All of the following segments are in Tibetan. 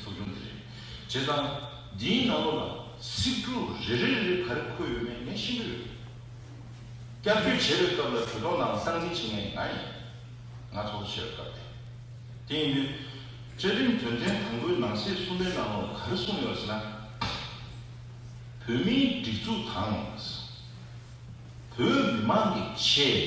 ཚོགས་ཆུང་དེ་རེད། བྱས་ཙང། འདིའི་ནང་ལོགས་ལ། ཚིག་འབྲུ་རེ་རེ་རེ་རེ་ག་རེ་འཁོད་ཡོད་མེད་ཉན་ཤེས་ཀྱི་ཡོད། བསྐྱར་བཅོས་བྱེད་པའི་སྐབས་ལ་གྲོས་ཚོགས་ནང་གསང་འཛིན་བྱེད་མཁན་ང་ཡིན། ང་ཚོགས་གཙོ་བྱས་པའི་སྐབས་དེ། དེ་ཡིན་དུས། བཅའ་ཁྲིམས་དོན་ཚན་དང་པོའི་ནང་གསེས་གསུམ་པའི་ནང་ལོགས་ལ་ག་རེ་གསུངས་ཡོད་ཟེར་ན། བོད་མིའི་སྒྲིག་འཛུགས་དང། བོད་མི་མང་གི་ཆེད།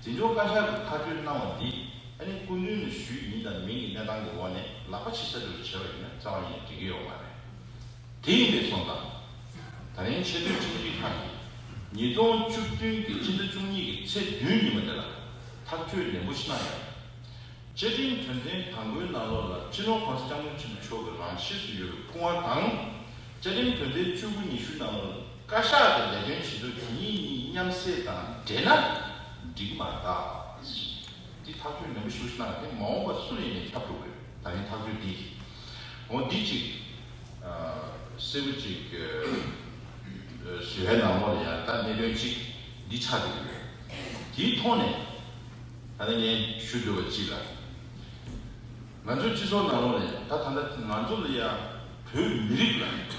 འཛིན་སྐྱོང་བཀའ་ཤག་གིས་ཐག་གཅོད་གནང་བ་འདི་ཨ་ནི་སྐུ་མདུན་ནས་ཞུས་ཡིན་དང་མིན་གྱི་གནས་སྟངས་ཀྱི་འོག་ནས་ལག་པ་ཕྱི་ས་རུ་བྱས་པ་ཡིན་ན་རྩ་བ་ནས་འགྲིག་གི་ཡོག་མ་རེད། དེ་ཡིན་པའི་སོང་ཙང། ད་རིང་ཆེས་མཐོའི་ཁྲིམས་སྒྲིག་ཁང་གིས་ཉིས་སྟོང་བཅུ་བདུན་གྱི་སྤྱི་ཟླ་བཅུ་གཉིས་ཀྱི་ཚེས་བདུན་ཉིན་མོ་དེ་ལ་ཐག་གཅོད་ནན་པོ་ཤི་གནང་ཡོད། བཅའ་ཁྲིམས་དོན་ཚན་དང་པོའི་ནང་ལོགས་ལ་སྤྱི་ནོར་ཁོང་ས་སྐྱབས་མགོན་ཆེན་པོ་མཆོག་གི་རང་གཤིས་སུ་ཡོད་པའི་སྐུ་དབང་དང། བཅའ་ཁྲིམས་དོན་ཚན་བཅུ་དགུ་ཉི་ཤུ་ནང་ལོགས་ལ། བཀའ་ཤག་གི་ལས་དོན་བྱེད་ལུགས་དེ་གཉིས་གཉིས་མཉམ་བསྲེས་དང་འདྲེས་ན་འགྲིག་མ་གཏགས། འདི་ཐག་གཅོད་ནན་པོ་ཞུ་ཞེ་ན་དེ་མ་འོངས་པ་སུ་ཡིན་ནས་ཁྱབ་འགྲོ་དགོས་ད་ཡིན་ཐག་གཅོད་འདི་འོང་འདི་གཅིག། སེ་བུ་གཅིག། ཟུལ་བྷའི་ནང་མོ་ལ་ཡང་ད་གནད་དོན་གཅིག་འདི་ཆགས་ཀྱི་ཡོད། དེའི་ཐོག་ནས་ད་ལན་ངས་ཞུ་འདོད་པ་གཅིག་ལ། ང་ཚོའི་སྤྱི་ཚོགས་ནང་ལོགས་ནས་ད་ད་ལྟ་ང་ཚོ་ལ་ཡང་བོད་མི་རིགས་ལ།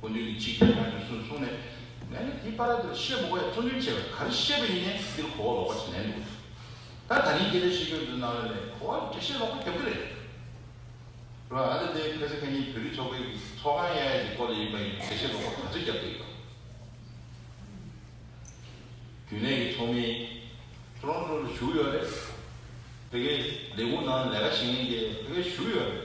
དགོས་འདོད་ཀྱི་འཇིག་རྟེན་ན་ཡོད་ཟུར་གསུངས་ནས། ངས་ནི་དེའི་པར་ར་དེར་ཤེལ་སྦུག་བས་བཙོན་འགྲིམ་བྱས་པས་ག་རེ་ཤེས་པ་ཡིན་ནས་འདིར་གོ་བ་ལོག་པ་ཞིག་ལེན་འདུག་ད། ད་ནི་འགྱེལ་བའི་ཤེས་ཀྱི་འདུག་ནང་བས་ལས་གོ་བ་འདྲེ་ཤེས་ལོག་པ་རྒྱབ་ཀྱི་རེད། རེད་བ། ཨ་ལེ་དེ་ཕེ་ཚེ་ཁེ་ཉིད་བོད་རིགས་ཚོགས་པའི་ཚོགས་ཁང་ཡ་ཡ་ཞིག་སྐོར་ལ་ཡིན་པ་ཡིན་འདུག་འདྲེ་ཤེས་ལོག་པ་ག་ཚོད་རྒྱབ་ཀྱི་ཡོད། རྒྱུན་ལས་ཀྱི་ཚོགས་མི Toronto ལ་ཞུགས་ཡོད་རེད། ཕེ་ཁེ་ལས་ཁུངས་ནང་ལས་ཀ་བྱེད་མཁན་དེ་ཕེ་ཁེ་ཞུགས་ཡོད་རེད།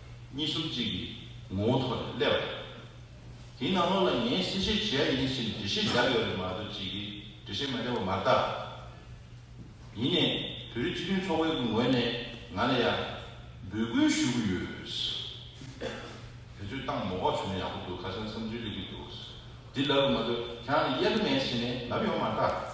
གཉིས་གསུམ་གཅིག་གི་ངོ་བོ་ཐོག་ནས་སླེབས་པ་རེད། དེའི་ནང་ལོགས་ལ་ངས་གསལ་བཤད་བྱེད་ཡ་ཡིན་ཞེས་འདྲི་གཞི་བཞག་ཡོད་རེད་མ་གཏོགས་བྱེད་ཀྱི་འདྲི་གཞི་མ་འདྲ་བ་མ་གཏགས། ཡིན་ནས་བོད་རིགས་སྤྱི་མཐུན་ཚོགས་པའི་ངོས་ནས་ང་ལ་ཡང་འབོད་སྐུལ་ཞུ་གི་ཡོད། དེ་ཚོའི་སྟངས་མོ་བ་བྱུང་ན་ཡག་པོ་འདུག་ཁ་སང་བསམ་ཚུལ་གླེང་གི་འདུག་འདི་ལབ་ཡོད་མ་གཏོགས་ཁྱེད་རང་ལ་གཡར་མེད་ཟེར་ནས་ལབ་ཡོང་མ་གཏགས།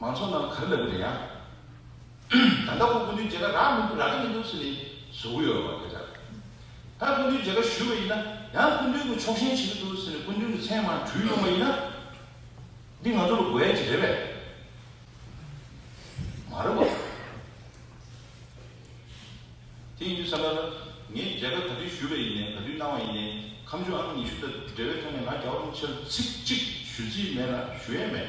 མང་ཚོགས་རྣམས་ག་རེ་ལབ་ཡོད་ཡང། ད་ལྟ་ཁོང་སྐུ་མདུན་མཇལ་ཁ་རག་མི་འདུག་རག་གི་མི་འདུག་ཟེར་ནས་བཟོ་གི་ཡོད་རེད་བ་སྐད་ཆ་རེད། ད་སྐུ་མདུན་མཇལ་ཁ་ཞུས་པ་ཡིན་ན་ཡང་སྐུ་མདུན་གྱི་ཕྱོགས་ཞེན་བྱེད་ཀྱི་འདུག་ཟེར་ནས་སྐུ་མདུན་གྱི་མཚན་མང་དྲུད་ཡོང་བ་ཡིན་ན། འདི་ང་ཚོ་ལ་དགོས་ཡ་ཅིག་རེད་པས། མ་རེད་བ། དེ་ཡིན་དུས་བསམ་ན། ངས་མཇལ་ཁ་ག་དུས་ཞུས་པ་ཡིན་ནས་ག་དུས་གནང་བ་ཡིན་ནས་ཁམས་ཆུང་ཨ་མ་ཉི་ཤུ་དང་འབྲེལ་བའི་ཐོག་ནས་ང་རྒྱ་བ་རུང་ཕྱིར་ཚིག་གཅིག་ཞུ་རྩིས་མེད་ལ་ཞུ་ཡས་མེད།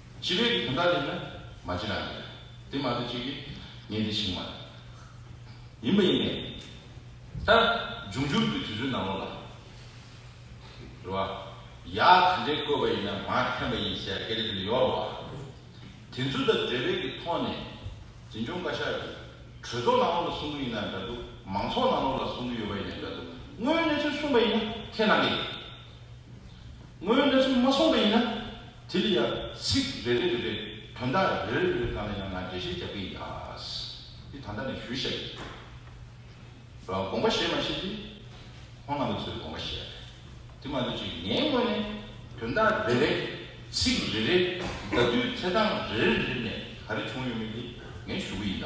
སྤྱི་ལོའི་དོན་དག་རེད་ན་མ་བརྗེད་རང་རེད། དེ་མ་ཐུག་ཅིག་གིས་ངས་འདི་བྱིངས་མ་རེད། ཡིན་པ་ཡིན་ནས། ད། འབྱུང་འགྱུར་གྱི་དུས་ཚོད་ནང་ལོགས་ལ། རེད་བ། ཡག་དེ་འདྲའི་བཀོད་པ་ཡིན་ན་མ་འཐེན་པ་ཡིན་ཟེར་སྐད་ཆ་དེ་འདྲ་ཡོད་རེད་བ། དེ་ཚོ་དང་འབྲེལ་བས་ཀྱི་ཐོག་ནས། འཛིན་སྐྱོང་བཀའ་ཤག་གིས། གྲོས་ཚོགས་ནང་ལོགས་ལ་གསུང་གི་ཡིན་ན་འདྲ་འདུག་མང་ཚོགས་ནང་ལོགས་ལ་གསུང་གི་ཡོད་པ་ཡིན་ན་འདྲ་འདུག་དངོས་གནས་ཚུལ་གསུངས་པ་ཡིན་ན་ཐེན་གནང་གི་ཡོད། ངོས་གནས་ཚུལ་མ་སོང་བ་ཡིན་ན། དེ་ལ་ཡང་ཚིག་རེ་རེ་རེ་རེ་དོན་དག་རེ་རེ་རེ་རེ་གང་ལ་ཡང་ང་འགྲེལ་བཤད་རྒྱག་གི་ཡ། འདི་ད་ལྟ་ནས་ཞུ་བཤད་ཡིན། དགོངས་པ་བཞེས་མ་བཞེས་དེ་ཁོང་རྣམ་པ་ཚོའི་དགོངས་པ་བཞེས་ཡ་རེད། དེ་མ་ཐོས་ཆེད་ངའི་ངོས་ནས་དོན་དག་རེ་རེ་ཚིག་རེ་རེ་ཟླ་དུས་ཚེ་གྲངས་རེ་རེ་རེ་རེ་ནས་ག་རེ་བྱུང་ཡོད་མེད་དེ་ངས་ཞུ་གི་ཡིན་ད།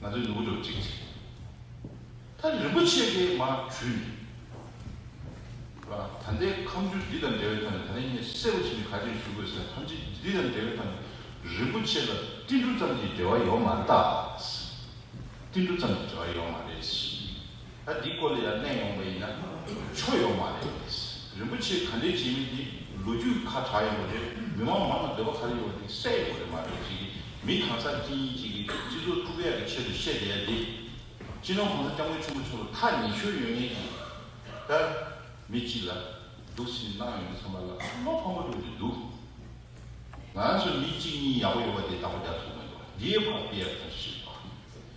ང་ཚོའི་ནུ་བོ་ལོ་གཅིག་ཅིག་ད་རིན་པོ་ཆེ་དེའི་མར་བྲུས་ནས་ད་ལྟའི་ཁམས་རྒྱུད་འདི་དང་འབྲེལ་བའི་ཐོག་ནས་ད་ལན་ངས་གསལ་པོ་ཞིག་ནས་ག་རེ་ཞུ་དགོས་ཟེར་ན་ཁམས་རྒྱུད་འདི་དང་འབྲེལ་བའི་ཐོག་ནས་རིན་པོ་ཆེ་ལ་ཏིལ་འབྲུ་ཙམ་གྱི་འབྲེལ་བ་ཡོད་མ་རེད་ད། ཏིལ་འབྲུ་ཙམ་གྱི་འབྲེལ་བ་ཡོད་མ་རེད། ད་འདི་སྐོར་ལས་ལ་གླེང་ཡོང་བ་ཡིན་ན་ཆོ་ཡོད་མ་རེད། རིན་པོ་ཆེ་ག་འདྲའི་བྱེད་མི་དེ་ལོ་རྒྱུས་ཁ་གྲག་ཡོང་བ་རེད་མི་མང་མང་ལ་འདོད་པ་ག་རེ་ཡོད་དེ་གསལ་ཡོང་བ་རེད་མ་རེད་ཅིག་མི་གང་སར་ཅི་ཡིན་ཅིག་སྤྱི་ཚོགས་དཀྲུག་ཡག་གི་ཆེད་དུ་བཤད་བསྡད་ཡ་དེ། སྤྱི་ནོར་གོང་ས་སྐྱབས་མགོན་ཆེན་པོ་མཆོག་ལ་ཐག་ཉེ་ཤོས་ཡོད་ངེས་ཀྱི། ད། མི་གཅིག་ལ། སྡུག་སེམས་གནང་ཡོང་གི་ཚང་མ་ལ་བློ་ཕམ་པོ་འགྲོ་གི་འདུག། ང་ཚོ་མི་གཅིག་གཉིས་ཡག་པོ་ཡོད་པ་དེ་ད་པོ་རྒྱ་ཐུག་མི་འདུག་དེའི་བར་དཔེ་ཡག་ཐོན་ཤེས་པ།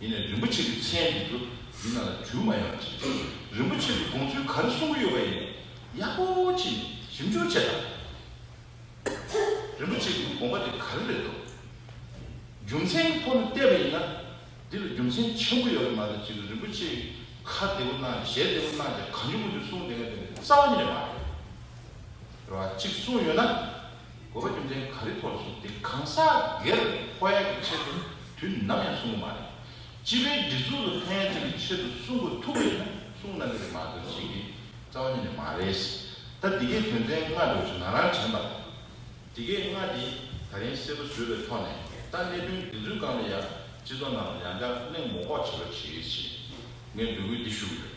ཡིན་ནས་རིན་པོ་ཆེ་གི་མཚན་འདི་ཚོ་ཡིན་ན་ལ་འགྱུར་མ་ཡོང་ཅིག། རིན་པོ་ཆེ་གི་དགོངས་ཚུལ་ག་རེ་གསུང་གི་ཡོད་པ་ཡིན་ནས་ཡག་པོ་བྱས་ནས་ཞིབ་འཇུག་བྱས་དང། རིན་པོ་ཆེ་གི་དགོངས་པ་དེ་ག་རེ་རེད་དོ། རྒྱུ་མཚན་གི་ཐོག་ནས་བལྟས་པ་ཡིན་ན་འདི་ལ་རྒྱུ་མཚན་ཆེན་པོ་ཡོད་པ་མ་རེད་ཅིག་རིན་པོ་ཆེ་གི་ཁ་བདེ་པོ་གནང་ཞེ་བདེ་པོ་གནང་ཅིག་གང་འགྱུར་མ་འགྱུར་གསུང་དེ་འགའ་དེ་ནས་རྩ་བ་ཉིད་ནས་མ་རེད། རེ་བ་ཅིག་གསུང་ཡོད་ན། དགོས་པ་རྒྱུ་མཚན་ག་རེ་ཐོག་བྱུང་སྟེ་གང་ཟག་སྒེར་ཧོ་ཡན་གྱི་ཆེད་དུ་དུས་ནམ་ཡང་གསུང་གི་མ་རེད། སྤྱི་པའི་སྒྲིག་འཛུགས་ལ་ཕན་ཡོན་ཅན་གྱི་ཆེད་དུ་གསུང་གི་ཐུག་པས་ཀྱང་གསུང་གནང་གི་རེད་མ་གཏོགས་བྱེད་ཀྱི་རྩ་བ་ཉིད་ནས་མ་རེད། ད་འདི་གའི་དོན་ཚན་ལྔ་འགྲོ་བཞིན་ང་རང་དྲན་པ་ལ། འདི་གའི་ལྔ་འདི་ད་རིང་གསལ་པོ་བཟོས་པའི་ཐོག་ནས་ད་གནད་དོན་འདི་ཚོའི་སྒང་ལ་ཡང་སྤྱི་ཚོགས་ནང་ལ་ཡང་བསྐྱར་གླེང་མོ་ལྐོག་བྱེད་པ་བྱེད་ཀྱི་ཆེད་ངས་འབོད་སྐུལ་འདི་ཞུ་གི་ཡོད།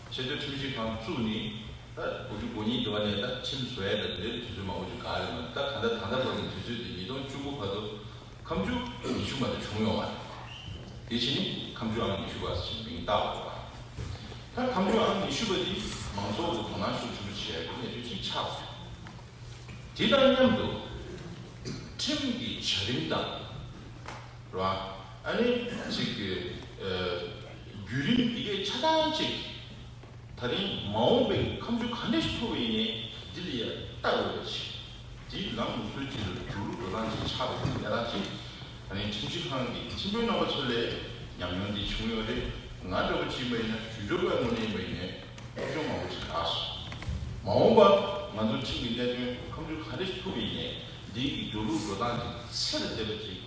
ཆེ་མཐོའི་ཁྲིམས་ཞིབ་ཁང་བཙུགས་ནས་ད་དགུ་བཅུ་གོ་གཉིས་འགྲོ་ནས་ད་ཁྲིམས་བཟོ་ཡ་ད་འདིར་དུས་ཚོད་མང་པོ་ཞིག་ག་རེ་མོད་ད་ད་ལྟ་ད་ལྟ་བར་གྱི་དུས་ཚོད་དེ་ཉིས་སྟོང་བཅུ་དགུ་བར་དུ་ཁམས་ཆུ་ཉི་ཤུ་མ་དེ་བྱུང་ཡོང་བ་རེད། དེ་བཞིན་ནི་ཁམས་ཆུ་ཨང་ཉི་ཤུ་པ་ཞེས་མིང་བཏགས་འོག་པ་རེད། ད་ཁམས་ཆུ་ཨང་ཉི་ཤུ་པ་དེ་མང་ཚོགས་ཀྱི་དོ་སྣང་ཤུགས་ཆེན་པོ་བྱས་ཡག་པོ་གནས་ཚུལ་ཅིག་ཆགས་སོང། དེ་དང་མཉམ་དུ་ཁྲིམས་ཀྱི་བྱ་རིམ་དང། ལ། ཨ་ནི། ཅིག་གི། བརྒྱུད་རིམ་འདི་གའི་ཆ་ཚང་གཅིག། ད་རིང་མ་འོངས་པའི་ཁམས་ཆུ་གང་འདྲས་སུ་འཐོར་བའི་ཡིན་ནས་འདི་ལ་ཡ་ལྟ་འོས་པ་ཅི། འདི་ལམ་མི་སྲོལ་ཅིག་ལ་འགྱུར་རུ་འགྲོ་སྟངས་ཅིག་ཆགས་པའི་ཡ་ལྟ་ཅི། ད་རིང་ཁྲིམས་ཞིབ་ཁང་གི་ཁྲིམས་དཔོན་རྣམ་པ་ཚོ་ལས་ཉམས་མྱོང་འདི་བྱུང་ཡོད་རེད་ང་འདྲ་བོ་ཅིག་མ་ཡིན་ན་ཞུ་སྦྱོར་བའི་ངོ་ནས་མ་ཡིན་ནས་སློབ་སྦྱོང་མང་པོ་ཅིག་བསྒྲགས་སོང། མ་འོངས་པ་ང་ཚོ་ཁྲིམས་ཀྱི་གནད་དོན་ཁམས་ཆུ་གང་འདྲས་སུ་འཐོར་བའི་ཡིན་ནས་འདི་ཀྱི་འགྱུར་རུ་འགྲོ་སྟངས་ཅིག་ཚད་ལ་བལྟས་པ་ཅིག།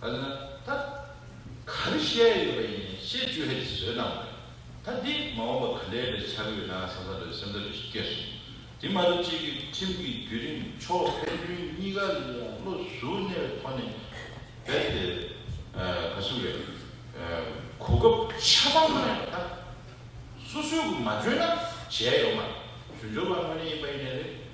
ཨ་ན། ད་གར་བཤད་ཡོད་པ་ཡིན་ཞེས་ཅུ་ཧའེ་ཅི་བཟོད་གནང་བས། ད་འདི་མ་འོངས་པ་ག་འདྲའི་ལས་བྱ་གི་ཡོད་ན་བསམ་བསམ་རེད་སེམས་ཐག་རེ་ཞིག་བཀད་སོང། དེ་མ་གཏོགས་ཅིག་གིས་ཁྲིམས་ཀྱི་བརྒྱུད་རིམ་ཕྱོགས་ཕན་ཚུན་གཉིས་ཀ་ལ་ཡང་བློ་གཟུ་བརྙེས་པའི་ཐོག་ནས་རྦད་དེ་ག་ཟུག་རེད། གོ་སྐབས་ཆ་ཚང་གནང་ཡོད་པ་དང། སོ་སོའི་མ་འཇོན་ན་བྱས་ཡོང་མ་རེད། ཞུ་འཇོག་པ་དངོས་གནས་ཡིན་པ་ཡིན་ནི་རེད།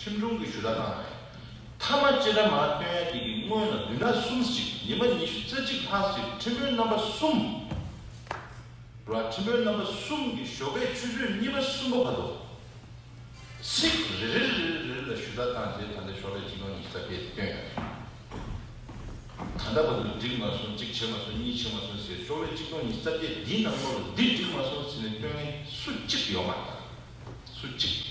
ཁྲིམས་སྒྲུང་གི་ཞུ་དག་གནང་བ་རེད། མཐའ་མ་སྤྱིར་དྲ་མང་སྟོན་ཡ་དེ་གི་སྔོན་ལ་བདུན་ན་གསུམ་གཅིག་ཉི་མ་ཉི་ཤུ་རྩ་གཅིག་ལྷག་གཅིག་ཁྲིམས་དཔོན་རྣམ་པ་གསུམ། ར་ཁྲིམས་དཔོན་རྣམ་པ་གསུམ་གི་ཞོགས་པའི་ཆུ་ཚོད་གཉིས་པ་གསུམ་པ་བར་དུ། ཚིག་རེ་རེ་རེ་རེ་རེ་ལ་ཞུ་དག་བཏང་རྗེས་ད་ལྟའི་ཞོགས་པའི་གཅིག་དང་ཉི་ཤུ་རྩ་བརྒྱད་སྟོན་ཡ་རེད། ད་ལྟ་བར་དུ་འགྲིག་མ་སོང་གཅིག་བྱས་མ་སོང་གཉིས་བྱས་མ་སོང་ཟེར་ཞོགས་པའི་གཅིག་དང་ཉི་ཤུ་རྩ་བརྒྱད་འདིའི་ནང་མོ་རུ་འདི་འགྲིག་མ་སོང་ཟེར་ནས་སྟོན་མཁན་སུ་གཅིག་ཡོད་མ་རེད། སུ་གཅིག།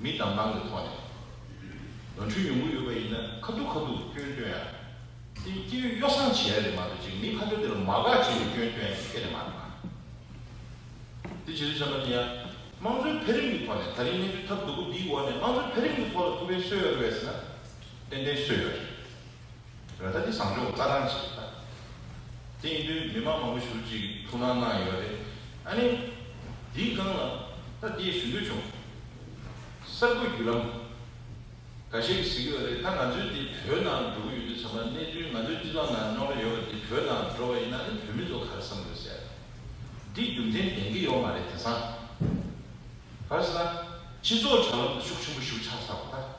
མི་དང་ནང་གི་ཐོག་ནས། ནོར་འཁྲུལ་ཉུང་ངུ་ཡོད་པ་ཡིན་ན་ཁ་ཐུག་ཁ་ཐུག་སྐྱོན་སྟོན་ཡ། སེམས་སྐྱེ་འོས་གཡོ་སངས་བྱེད་ཡ་རེད་མ་གཏོགས་ཅིག་མི་ཁ་ཐུག་དེ་ལ་མ་དགའ་བྱེད་འོས་སྐྱོན་སྟོན་ཡ་དེ་ཁེ་ལས་མ་རེད་མ། དེ་བྱེད་དུ་བཅར་མ་ནི་ཡ། དམངས་གཙོའི་འཕེལ་རིམ་གྱི་ཐོག་ནས་ད་རིང་གནས་ཚུལ་ཐབས་སྡུག་པོ་འདིའི་འོག་ནས་དམངས་གཙོའི་འཕེལ་རིམ་གྱི་ཐོག་ལ་ཐུགས་ཕན་གསོས་ཡོད་རེད་བས་ཟེར་ན། ཏན་ཏན་གསོས་ཡོད་རེད། ར་ཐ་ནི་བཟང་སྤྱོད་རྩ་ཐང་ཞིག་རེད་ད། སྟེང་དུས་མི་མང་མང་པོ་ཞུགས་ཀྱིས་ཐུགས་སྣང་གནང་ཡོད་པ་རེད། ཨ་ནི། འདིའི་སྒང་ལ་ད་ལྟའི་ཞུ་འདོད་བྱུང། གསར་འགོད་བརྒྱུད་ལམ། འགའ་ཤས་ཀྱིས་གཟིགས་ཡོད་རེད་ད་ང་ཚོའི་འདི་བོད་ནང་འགྲོ་གི་ཡོད་དུས་ཚང་མ་གནས་ཚུལ་ང་ཚོའི་སྤྱི་ཚོགས་ནང་ཉོག་ར་ཡོད་པ་འདི་བོད་ནང་འགྲོ་བ་ཡིན་ན་ནི་བོད་མི་ཚོ་ག་རེ་བསམ་དགོས་ཟེར། འདི་རྒྱུ་མཚན་ལྡན་གྱི་ཡོད་མ་རེད་དེང་སང། ཕར་ཟེར་ན། སྤྱི་ཚོགས་དྲ་ལམ་དུ་ཤུགས་ཆེན་པོ་ཞུགས་ཆགས་ཚར་བ་ད།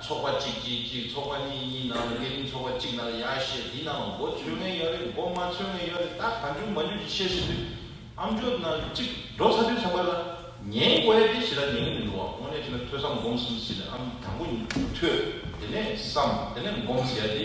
ཚོགས་པ་གཅིག་གཅིག་གཅིག་ཚོགས་པ་གཉིས་གཉིས་ནང་ལ་སྐས་རིམ་ཚོགས་པ་གཅིག་ནང་ལ་ཡག་ཤེས་འདི་ནང་ལ་འགོ་འཚོས་མཁན་ཡོད་རེད་འགོ་མ་འཚོས་མཁན་ཡོད་རེད་ད་ག་འཇུག་མ་འཇུག་ཅིག་བཤད་ཟིན་དུས་ཨམ་ཅོག་ནང་གི་གཅིག་འགྲོ་ཚར་དུས་ཚང་མ་ལ་ཉན་དགོས་ཡ་དེ་ཞེ་དྲག་ཉན་གི་མི་འདུག་བ་དངོས་གནས་བྱས་ན་ཐོས་བསམ་སྒོམ་གསུམ་བྱས་ནས་ཨམ་དང་པོ་ཉིད་ཐོས་དེ་ནས་བསམ་དེ་ནས་སྒོམ་ཟེར་ཡ་དེ་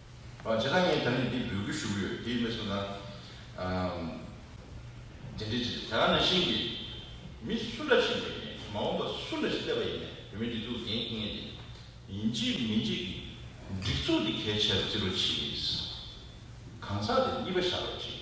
བ་ཇི་ལྟར་ངས་དྲ་འབྲེལ་འདི་འབུལ་དགོས་ཞུ་གི་ཡོད་དེ་མི་སུ་དང་འབྲེལ་འདྲིས་བྱེད་དེ་རང་ནང་བཞིན་གྱི་མི་སུ་འདྲ་ཞིག་ཡིན་ནས་མ་འོངས་པ་སུ་འདྲ་ཞིག་བསླེབས་པ་ཡིན་ནས་བོད་མི་སྒྲིག་འཛུགས་འགན་ཁུར་ངེས་ཏེ། ཡིན་གཅིག་མིན་གཅིག་གིས་སྒྲིག་འཛུགས་འདི་གལ་ཆེར་བརྩི་རོགས་བྱེད། གང་ཟག་དེ་གཉིས་པ་བཞག་རོགས་བྱེད།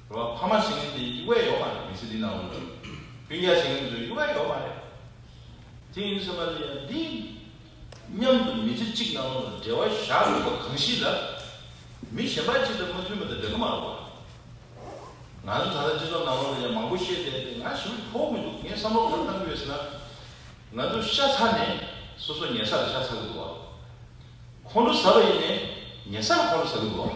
རོ་ལ་ཕ་མ་ཞིག་ནི་དེ་གཡུག་བས་ཡོག་མ་རེད་མི་ཚེ་འདི་ན་འོང་དུས་སྤུན་རྒྱག་བྱེད་མཁན་ཚོས་གཡུག་བས་ཡོག་མ་རེད། དེ་ཡིན་ཟེར་བ་ལས་ཡང་འདི་སྙམ་དུ་མི་ཚེ་གཅིག་ནང་ལ་འབྲེལ་བ་བཞག་ཡོད་པ་གང་ཞིག་ལ་མི་གཞན་པ་གཅིག་དང་མ་མཐུན་པ་དེ་འགྲིག་གི་མ་རེད་བ། ང་ཚོ་ད་ལྟ་སྤྱི་ཚོགས་ནང་ལོག་ལས་ཀྱང་མང་པོ་བཤད་བསྡད་དེ་ང་ཞི་བར་ཕོག་མི་འདུག་ངས་བསམ་བློ་གང་བཏང་གི་ཡོད་ཟེར་ན། ང་ཚོ་ཤ་ཚ་ནས་སོ་སོ་ཉལ་ས་ལ་ཤ་ཚ་གི་འདུག་བ། ཁོང་ཁྲོ་ཟ་བ་ཡིན་ནས་ཉལ་ས་ལ་ཁོང་ཁྲོ་ཟ་གི་འདུག་བ།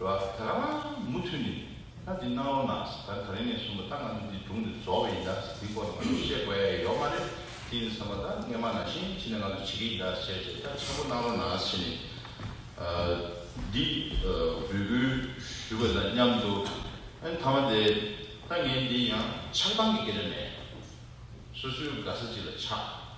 རབ་ད་རང་མུ་མཐུད་ནས་ལྷ་འདི་སྣང་རོ་ནགས་ད་ག་རེ་ནས་བཟུང་བ་ད་ང་ཚོ་འདི་སྒྲུང་འདི་རྫོགས་བའི་ཡིན་ད་འདི་སྐོར་ལ་ང་ཚོ་བཤད་དགོས་ཨེ་ཡོད་མ་རེད་དེ་ཡིན་བསམ་པ་ད་སྔས་མ་ནང་བཞིན་ཕྱི་ནས་ང་ཚོ་བྱེད་ཀྱི་ཡིན་ད་བྱས་བྱས་ད་ཆེན་པོ་གནང་རོ་ནགས་བྱས་ནས་འདི་འབོད་སྐུལ་ཞུས་པ་དང་མཉམ་དུ་ཨེ་ད་མ་དེ་ད་ངས་འདི་ཡང་ཆགས་སྡང་གི་སྐད་ཆ་མེད་སོ་སོའི་དགའ་ས་ཅིག་ལ་ཆགས།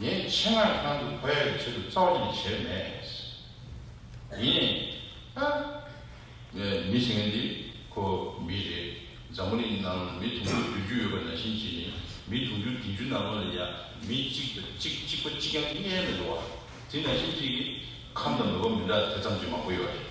ངས་ཆེད་མངགས་ཁང་དུ་བོད་ཡིག་ཆེད་དུ་རྩ་བ་ནས་བྱས་མེད། ཡིན། ཨ། ངས་མི་ཟེར་མཁན་དེ་ཁོ་མི་རེད། འཛམ་བུ་གླིང་ནང་ལ་མི་དུང་ཕྱུར་བདུན་ཅུ་ཡོད་པ་ན་ཕྱིན་ཅི་ནི་མི་དུང་ཕྱུར་བདུན་ཅུ་ནང་ལོགས་ལ་ཡང་མི་གཅིག་དང་གཅིག་གཅིག་པ་གཅིག་ཀྱང་གནས་མེད་དོ། དེ་ན་ཕྱིན་ཅི་ཁམས་དང་མོས་པ་མི་འདྲ་དེ་ཙམ་གྱིས་མང་པོ་ཡོད་རེད།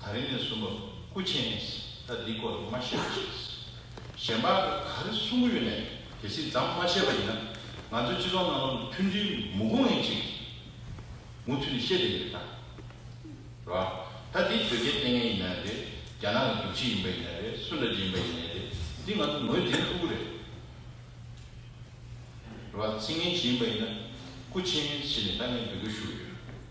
ད་རིང་ནས་བཟུང་བ་སྐུ་ཆེན་ནས་ད་འདི་སྐོར་མ་བཤད་རོགས་ཞེས་གཞན་པ་ག་རེ་གསུང་གི་ཡོད་ནས་གལ་སྲིད་ཛམ་མ་བཤད་པ་ཡིན་ན་ང་ཚོའི་སྤྱི་ཚོགས་ནང་ལོགས་ནས་མཐུན་སྒྲིལ་མུ་གུང་ཡིན་ཅིག་མུ་མཐུད་ནས་བཤད་བསྡད་ཡོད་ད་རེད་བ། ད་འདི་དོལ་རྒྱལ་བསྟེན་མཁན་ཡིན་ན་རེད་རྒྱ་ནག་གི་རྒྱུག་ཁྱི་ཡིན་པ་ཡིན་ན་རེད་སུ་འདྲ་ཅིག་ཡིན་པ་ཡིན་ནས་རེད་འདི་ང་ཚོ་ངོས་འཛིན་ཐུབ་ཀི་རེད་བ། ཚིག་ངན་བྱེད་ཡིན་པ་ཡིན་ན་སྐུ་ཆེན་ཞེས་ནས་ད་ངས་འབོད་སྐུལ་ཞུ་གི་ཡོད།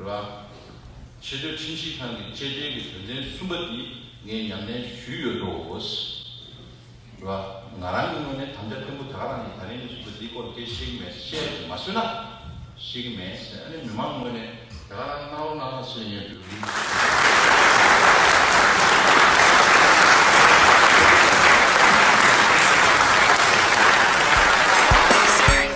ར། ཕྱི་དྲོའི་ཁྲིམས་ཞིབ་ཁང་གི་བཅད་ཁྲའི་གི་དོན་ཚན་གསུམ་པ་འདི་ངས་ཉམས་ལེན་ཞུས་ཡོད་དོ། ར། ང་རང་གི་ངོས་ནས་དམ་བཅའ་བརྟན་པོ་དག་རང་གིས་ད་རིང་ནས་བཞུགས་པའི་འདི་སྐོར་སྐད་བཤད་གི་མེད་བཤད་ཀྱི་མ་སོད་ན། བཤད་ཀྱི་མེད་ཟེར་ཨ་ནི་མི་མང་ངོས་ནས་དེ་ག་རང་གནང་རོགས་གནང་རོགས་ཟེར་ཡོད་དུས་རིང་ཞིག་ཡིན།